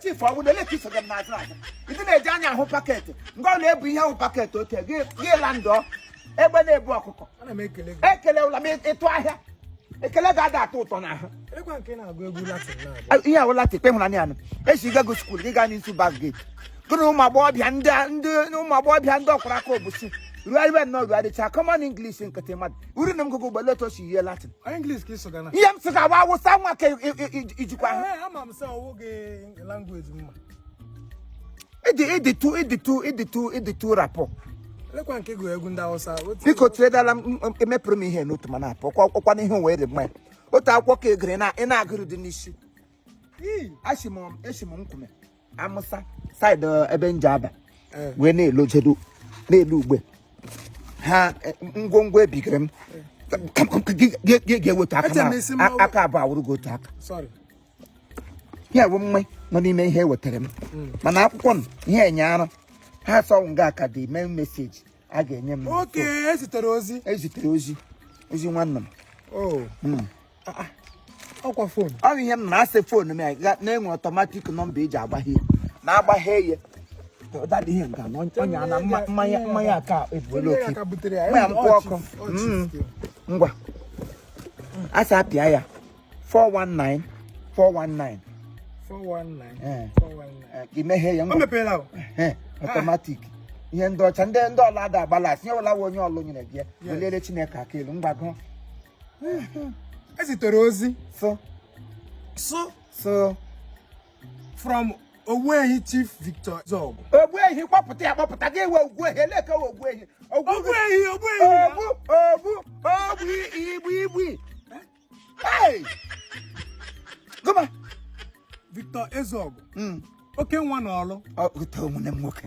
chifu ọbụla ele ka iso gị n'azụ azụ ndị na-eji anya ahụ paketị ngwa ọ na-ebu ihe ahụ paketị oke gị gị la ndọ egbe na-ebu ọkụkọ Ana m ekele gị. ekele ụla ma ịtụ ahịa ekele ga-ada atọ ụtọ n'ahụ Elekwa nke ị na-agụ egwu Latin na-agụ. ihe a wụ Latin kpe hụrụ anya anụ a sị gị gaa skuul gị gaa n'isi bas geti gị na ụmụ agbọghọbịa ndị ndị ụmụ agbọghọbịa ndị ọkwara aka obusi ruo iwe nnọọ ruo adịcha common English nkịtị mmadụ uru na mgụgụ ụgbọ let us hear Latin Ọ English ka ị sụga na. ihe m sị ka wa Awụsa nwa ka i- i- i- ijikwa ahụ Ee, ama m sị ọ wụ gị language mma. ịdị ịdị tu ịdị tu ịdị tu ịdị tu rapụ Lekwa nke gụrụ egwu ndị Hausa. Otu- biko tiredala m m- emepụrụ m ihe n'otu ma na-apụ ọkwa ọkwa n'ihe wee dị mma ya. otu akwụkwọ ka egere na ị na-agụrụ dị n'isi Ii. achị m esi m nkume Ama Awụsa side eh, ebe nje Aba eh. wee na-elojedo n'elu ugbe ha eh, ngwongwo ebigere m ga-eweta aka abụọ awụrụ gị otu aka ihe wụ mma nọ n'ime ihe ewetara m hmm. mana akwụkwọ m ihe enye ara ha sị ọ wụ nga a ka the main message a ga-enye m ezitere ozi ezitere ozi ozi nwanne m oh. hmm. ah, ah. ọkwa fon ọ bụ ihe m na-asị fon m na-enwe ọtọmatik nọmba eji agbaghe na-agbaghe ya dada ihe nke na ọnya na mmanya mmanya aka ebuola oke mmanya mkpụ ọkụ mm. ngwa a sị apịa ya 419 imeghe ya ngwa ọtọmatik ihe ndị ọcha ndị ndị ọla ada agbala asị nye ọla onye Ọlụ nyere gị ya welere Chineke aka elu mgbago ezitere ozi so so so from Ogbuehi Chief Victor Zog Ogbuehi kpọpụta ya kpọpụta gị ewe Ogbuehi eleke Ogbuehi Ogbuehi Ogbuehi ogbu ogbu ogbu igbu igbu come on Victor Ezeogo hmm. oke nwa n'Ọlụ nwanne m nwoke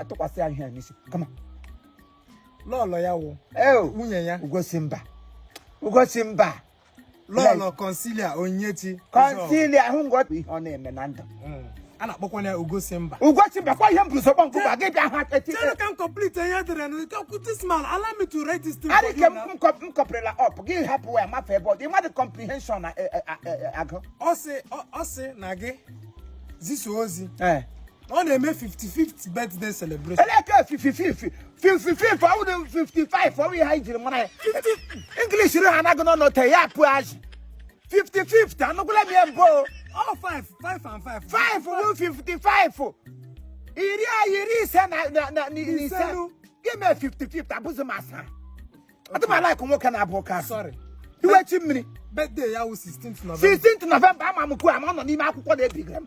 atụkwasị ya ihe n'isi come on lọlọ ya wụ nwunye ya Ugosimba Ugosimba Lọlọ Consilia Onyechi Consilia ahụ ngọpụ ihe ọ na-eme na ndụ hmm. a na-akpọkwa ya Ugosimba Ugosimba kwa ihe m bụrụsọ kpọnkụ ba gị bịa ha echi chere ka m complete ihe edere na ikekwu this man allow me to write this thing for you na m kọpụrịla ọp gị hapụ ya mafe ebe ọ dị mmadụ comprehension na eh, eh, eh, agụ ọ sị na gị zisa ozi ọ na-eme 55th birthday celebration eleke 55 55 ọwụ na 55 ọwụ ihe anyị jiri mara ya english ri ha anaghị nọ n'ote ya pụ azụ 55 anụgwụla m ya mbụ o. all five five and five 5 wụ 55 iri a iri ise na na- na- na- na ise Isenu. gị mee 55 abụzi m asa atụmala ikụ nwoke na-abụ ụka asị sorry wait a minute birthday ya wụ 16th November 16th November ama m kwuo ama ọ nọ n'ime akwụkwọ na-ebiga m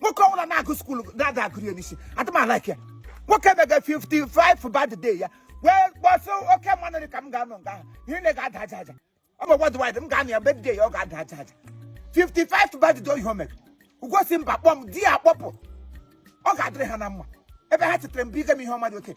nwoke ọbụla na-agụ school na-ada agụrụ ya n'isi adịmalike ya nwoke mega 55th birthday ya wee gbọsị oke mmanụ dị ka m ga-anọ nga ahụ ihe na ga-ada aja aja ọ bụ worldwide m ga-anọ ya birthday ya ọ ga-ada aja aja 55th birthday ihe o mere ugosi mba kpọm di ya akpọpụ ọ ga-adịrị ha na mma ebe ha chetere mba ige m ihe ọma dị oke